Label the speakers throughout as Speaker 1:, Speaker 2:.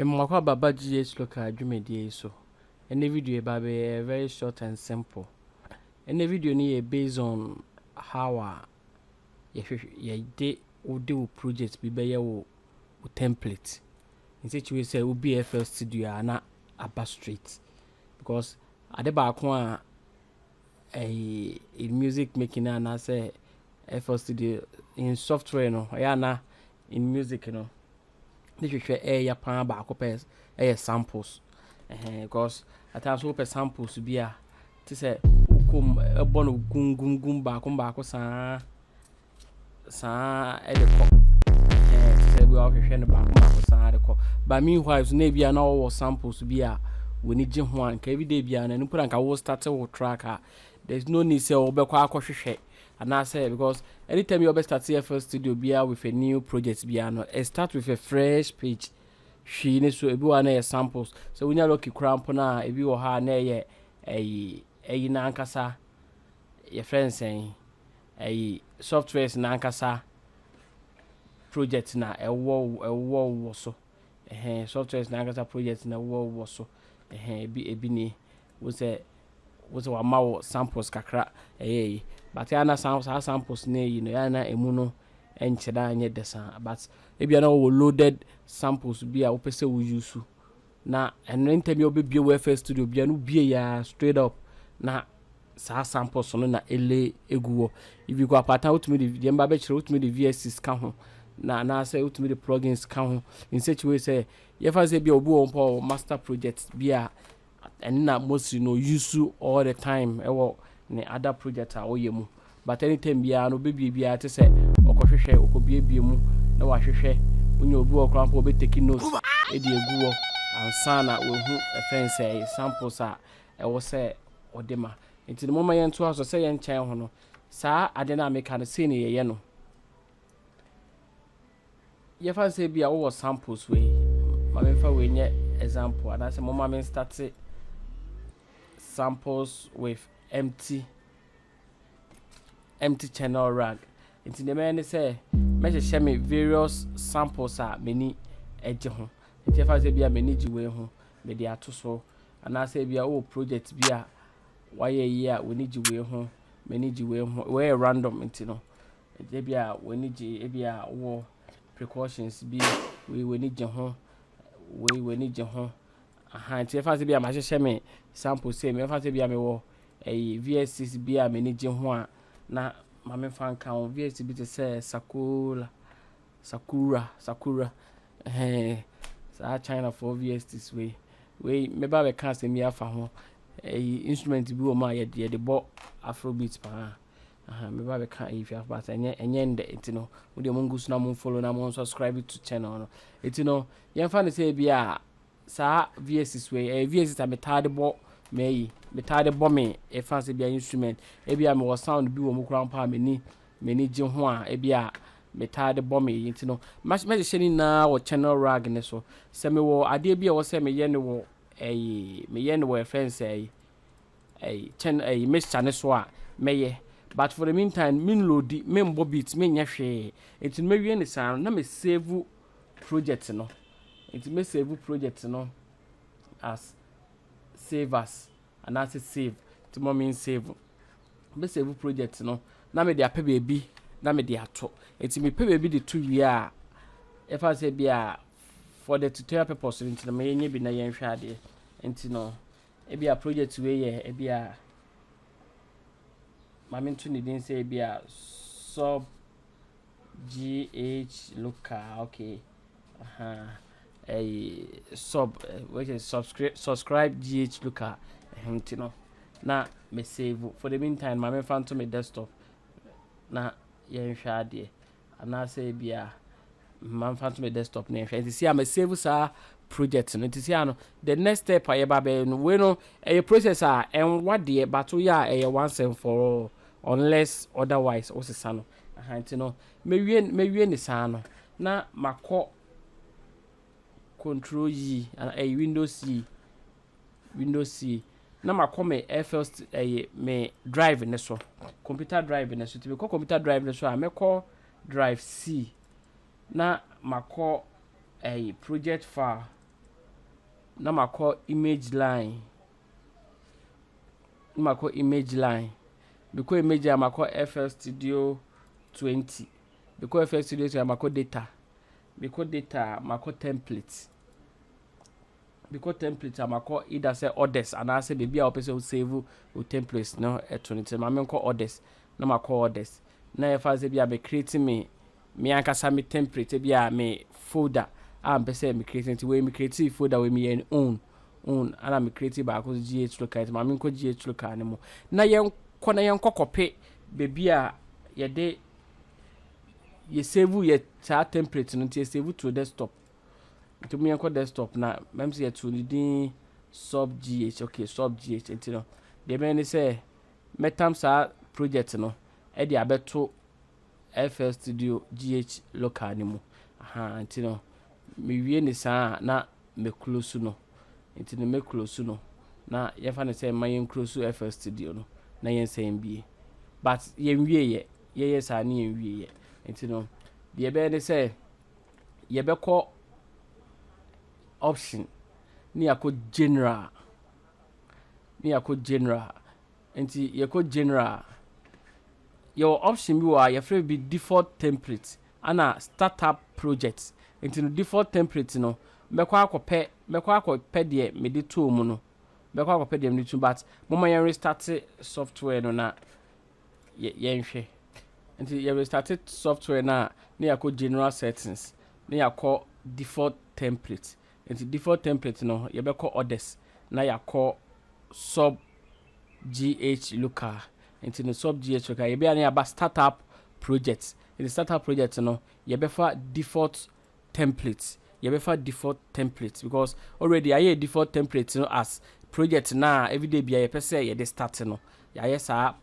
Speaker 1: Mmoa kɔ aba ba GH local dwumadie yi so. Ɛnɛ video yi ba bɛyɛ very short and simple. Ɛnɛ video no yɛ based on how a yɛhwehwɛ yɛde wode wo project bi bɛyɛ wo wo template. In such way sɛ wobi FL studio a na aba straight because ade baako a ɛyi music making no anaasɛ FL Studio in software no ɛyɛ a na in music no ne hwehwɛ ɛyɛ paa baako pɛ ɛyɛ samples ɛhɛn because at times wopɛ samples bi a te sɛ wokom ɛbɔ no gum gum gum baako baako saa. saa ara de kɔ. Ɛhɛn, te sɛ ebi a wɔhwehwɛ no baako baako saa ara de kɔ. But meanwhile nso na ebi a na wɔwɔ samples bi a w'ani gye ho a nka ebi da ebi a na ɛno mpo na nka wo start wo track a there is no need sɛ wobɛkɔ akɔhwehwɛ anaasɛ because anytime bi a wɔbɛ start FL Studio biara with a new project biara no it start with a fresh page hwii ne so ebi wɔ hɔ a na ɛyɛ samples sɛ wonya lucky koraa mpo no a ebi wɔ hɔ a na ɛyɛ ɛyi ɛyi no ankasa yɛfrɛ no sɛn Ɛyi softwares no ankasa project na ɛwowɔ ɛwowɔ wowɔ so ɛhɛn softwares no ankasa project na ɛwowɔ wowɔ so ɛhɛn ebi ebi nie wo sɛ wo sɛ wama wo samples kakra ɛyɛ eyi but ɛyɛ a na saa saa samples no eyi no ɛyɛ a na emu no ɛnkyerɛ anyɛ dɛ saa but ebia na wɔwɔ loaded samples bi a wopɛ sɛ wo use na ɛno ntɛm yɛ ɔbɛbue wo FL Studio bia no bue yɛ a straight up na saa samples no na ɛle egu wɔ if you go apata wotumi de deɛ mba bɛkyerɛ wotumi de VSTs ka ho na anaasɛ wotumi de plugins ka ho in such a way sɛ yɛfa sɛ bia obi wɔ mpo wɔ master project bi a ɛno na mostly no use all the time ɛwɔ ne other project a ɔyɛ mu But anytime biara no ɔbɛbie biara te sɛ ɔkɔhwehwɛ ɔkɔbiebie mu na wahwehwɛ wonya obi wɔ hɔ koraa mpo a ɔbɛtake note de agu hɔ ansa na wahu ɛfɛ nsɛe samples a ɛwɔ sɛ ɔde ma nti no momma yɛntoa so sɛ yɛnkyɛn ho no saa ade no a meka no sei na yɛyɛ no yɛfa nsɛ bi a wowɔ samples wei ma memfa wei nyɛ example anaasɛ momma menstate samples with empty empty channel rag. Nti deɛ mɛyɛ ne sɛ mɛhyehyɛ me various samples a m'ani gye ho. Nti ɛfa sɛ bi a m'ani gye wei ho, mede ato so. Anaasɛ bi a wowɔ project bi a wayɛ yie a w'ani gye wei ho, m'ani gye wei ho. Wei yɛ random nti no, ɛgye bi a w'ani gye, ebi a wowɔ precautions bi, wei w'ani gye ho, wei w'ani gye ho. Ahaa nti ɛfa sɛ bia mahyehyɛ me sample sei me ɛfa sɛ bia me wɔ ɛyi VSs bi a m'ani gye ho a na ma me fa nka ho VS bi te sɛ Sakura Sakura Sakura ɛhɛn saa China foɔ VSs wei wei me ba bɛka asɛm bi afa ho ɛyi instrument bi wɔ mu a yɛde yɛde bɔ afrobeat paa ahaa me ba bɛka ɛyi fi afro baasa ɛnyɛ ɛnyɛ ndɛ nti no mo deɛ mo ngu so na mo follow na mo subscribe to channel no nti no yɛn fa ne sɛ ebi a saa VSes wei, ɛyɛ VSes a metaa de bɔ m'ayi, metaa de bɔ me ɛfa sɛ bia instrument, ebi a mewɔ sound bi wɔ mu koraa mpo a m'ani m'ani gye ho a ebi a metaa de bɔ me yi nti no mɛhyehyɛ ne nyinaa wɔ channel rag ne so. Sɛ mewɔ adeɛ bi a ɛwɔ sɛ meyɛ no wɔ ɛyi meyɛ no wɔ yɛfrɛ no sɛ ɛyi ɛyi channel ɛyi mixture ne so a mɛyɛ but for the meantime menloadi, menbɔ beat, menyɛ hwee nti no mɛwie no saa no na me save project no nti mɛ save project no as save as anaasɛ save nti ma me save mɛ save project no na mede apɛ baabi na mede ato nti mepɛ baabi de to wie a ɛfa sɛ bi a for the tutorial purpose nti na mɛnyɛ bi na yɛnhwɛ adeɛ nti no ebi a project wei yɛ ebi a maame nto ne din sɛ ebi a sub GH local okay ahaa ɛyi sub which is subscribe subscribe GH local ɛhɛn ti no na me save for the meantime maame nfa nto me desktop na yɛnhwɛ adeɛ anaasɛ ebi a maame nfa nto me desktop na yɛnhwɛ nti si a me save saa project no nti si a no the next step a yɛba bɛyɛ no wei no ɛyɛ process a ɛnwa deɛ bato yɛ a ɛyɛ once and for all unless otherwise wosesa no Aha nti no mɛwie mɛwie ne saa no na makɔ control yi anaa ɛyɛ windows yi windows yi na makɔ me FL ɛyɛ me drive ne so computer drive ne so ti mekɔ computer drive ne so a mɛkɔ drive C na makɔ ɛyɛ project file na makɔ image line. na makɔ image line. Mekɔ image line a, makɔ FL Studio 20. Mekɔ FL Studio 20 a, makɔ data. Mekɔ data a, makɔ template. Mekɔ template a, makɔ either sɛ orders anaasɛ baabi a wɔpɛ sɛ wosave wo template no to no. Nti ma menkɔ orders na makɔ orders. Na yɛfa sɛ bi a me create me me ankasa me template ebi a me folder a mepɛ sɛ me create nti wei me create folder wei meyɛ no own own ana me create baako so GH local nti maame nkɔ GH local no mu na yɛnkɔ na yɛnkɔ kɔpe baabi a yɛde yɛ save yɛ saa template no nti yɛ save to desktop nti mu yɛnkɔ desktop na mɛm sɛ yɛto ne din sub GH okay sub GH nti no deɛ mɛyɛ ne sɛ mɛtam saa project no ɛde abɛto FL Studio GH local no mu. Ahaa nti no mewie no saa a na me close no. Nti no me close no na yɛmfa no sɛ mma yɛn close FL Studio no na yɛnsan mbue. But yɛnwieɛ, yɛyɛ saa ne yɛnwieɛ. Nti no deɛ ɛbɛyɛ ne sɛ yɛbɛkɔ option ne yɛakɔ general ne yɛakɔ general Nti yɛkɔ general a, yɛwɔ option bi wɔ hɔ a yɛfrɛ no bi default template ana startup project. Nti no default template no mɛkɔ akɔpɛ mɛkɔ akɔpɛ deɛ mede too mu no mɛkɔ akɔpɛ deɛ mede to but momma yɛn restarte software no na yɛnhwɛ. Nti yɛ restarte software no a na yɛakɔ general settings na yɛakɔ default template Enti default template no yɛbɛkɔ orders na yɛakɔ sub GH local. Enti no sub GH local yɛbɛyɛ a na yɛaba startup project. Enti startup project no yɛbɛfa default template. Yɛbɛfa default template because already yɛayɛ yɛn default template no as project no a everyday biara yɛpɛ sɛ yɛde start no. Yɛayɛ saa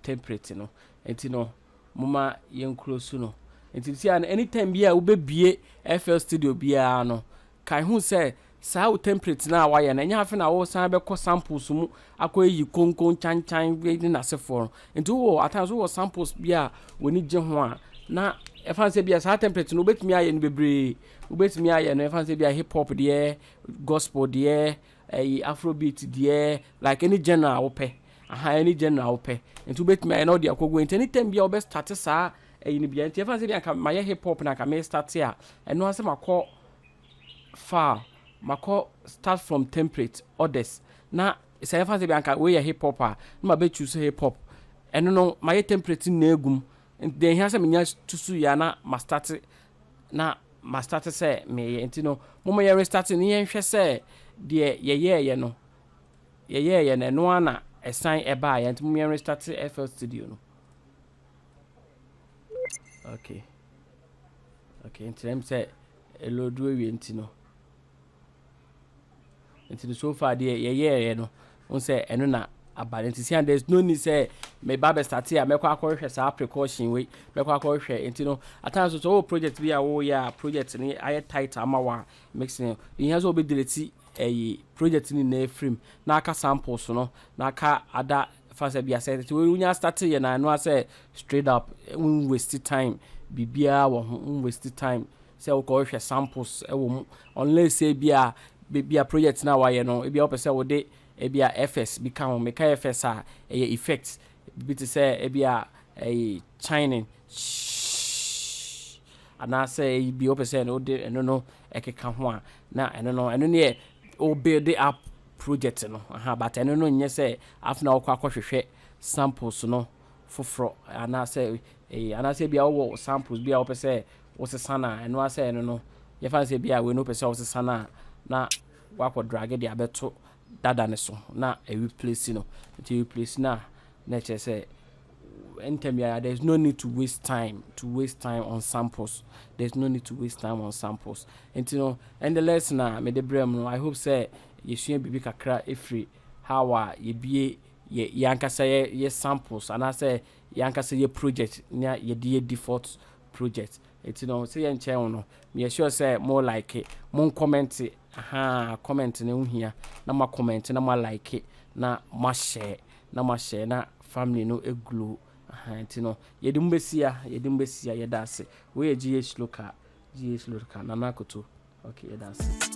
Speaker 1: temperate no nti no moma yɛn kuro su no nti nti a no any time bi a wobɛ bie FL studio biara no kae hu sɛ saa wo temperate no a wayɛ no ɛnyɛ afe na wo san bɛkɔ samples mu akɔ ayi konkon kyan kyan wei ne nasefoɔ no nti wowɔ at times wowɔ samples bi a w'ani gye ho a na ɛfan sɛ bi a saa temperate no wobɛtumi ayɛ no bebree wobɛtumi ayɛ no ɛfan sɛ bi a hip hop deɛ gospel deɛ Ɛyi afrobeat deɛ like any genre a wopɛ aha any genre a wopɛ nti wobɛtumi ayɛ na wode akɔ gu nti anytime biara wobɛ starte saa ɛyi no biara nti ɛfa sɛ anka mayɛ hip hop na anka me starte a ɛno ara sɛ makɔ far makɔ start from template orders na sɛ ɛfa sɛ anka wei yɛ hip hop a na mabɛ choose hip hop ɛno no mayɛ template nyinaa agu mu nti deɛ ɛhia sɛ menya tu so yie a na ma starte na ma starte sɛ meyɛ nti no moma yɛ restarte ne yɛn hwɛ sɛ deɛ yɛyɛɛyɛ no yɛyɛɛyɛ no ɛno ara na ɛsan ɛbaeɛ nti moma yɛn restarte FL Studio no okay okay nti na sɛ ɛlɔdu awie nti no Nti no so far deɛ yɛyɛeɛ no wohu sɛ ɛno na aba no nti sia there's no need sɛ meba bɛstate a mɛkɔ akɔhwehwɛ saa precaution wei mɛkɔ akɔhwehwɛ nti no at times nso wɔ project bi a woyɛ a project no ayɛ tight ama wɔ a mix no yɛhia sɛ wobɛdelete ɛyi project no nyinaa firim na aka samples no na aka ada fa sɛ bi asɛ nti wonya start yɛ na ɛno asɛ straight up wo waste time biribiara wɔ ho wo waste time sɛ wokɔhwehwɛ samples wɔ mu unless sɛ ebi a baabi a project no a wɔayɛ no ebi a wopɛ sɛ wode ebi a effects bi ka ho. Meka effects a, ɛyɛ effect bi te sɛ ebi a ɛyi chiming shhh anaasɛ ebi a wopɛ sɛ wode ɛno no keka ho a, na ɛno no ɛno no yɛ wo build up project no aha but ɛno no nyɛ sɛ afei na wokɔ akɔhwehwɛ samples no foforɔ anaasɛ eyi anaasɛ ebi a wowɔ samples bi a wopɛ sɛ wosesa no a, ɛno ara sɛ ɛno no, yɛmfa no sɛ ebia wei no wopɛ sɛ wosesa no a, na woakɔdrage de abɛto dada no so na ɛreplesi no. Nti ɛreplesi no a, na ɛkyerɛ sɛ ntɛm biara there is no need to waste time to waste time on samples there is no need to waste time on samples nti no ɛnde lesson a mede brɛ mu no i hope sɛ yɛsua biribi kakra ɛfiri how a yɛbie yɛ yɛankasa yɛ yɛ samples anaasɛ yɛankasa yɛ project na yɛde yɛ default project nti no sɛ yɛnkyɛɛ wo no meyɛ sure sɛ mo like mo nkɔmɛnte ahaa comment no ho hia na mo akɔmɛnte na mo alike na mo ahyɛɛ na mo ahyɛɛ na family no glow ahaa nti no yɛde mo bɛsia yɛde mo bɛsia yɛda ase wei yɛ GH local GH local nana akoto okay yɛda ase.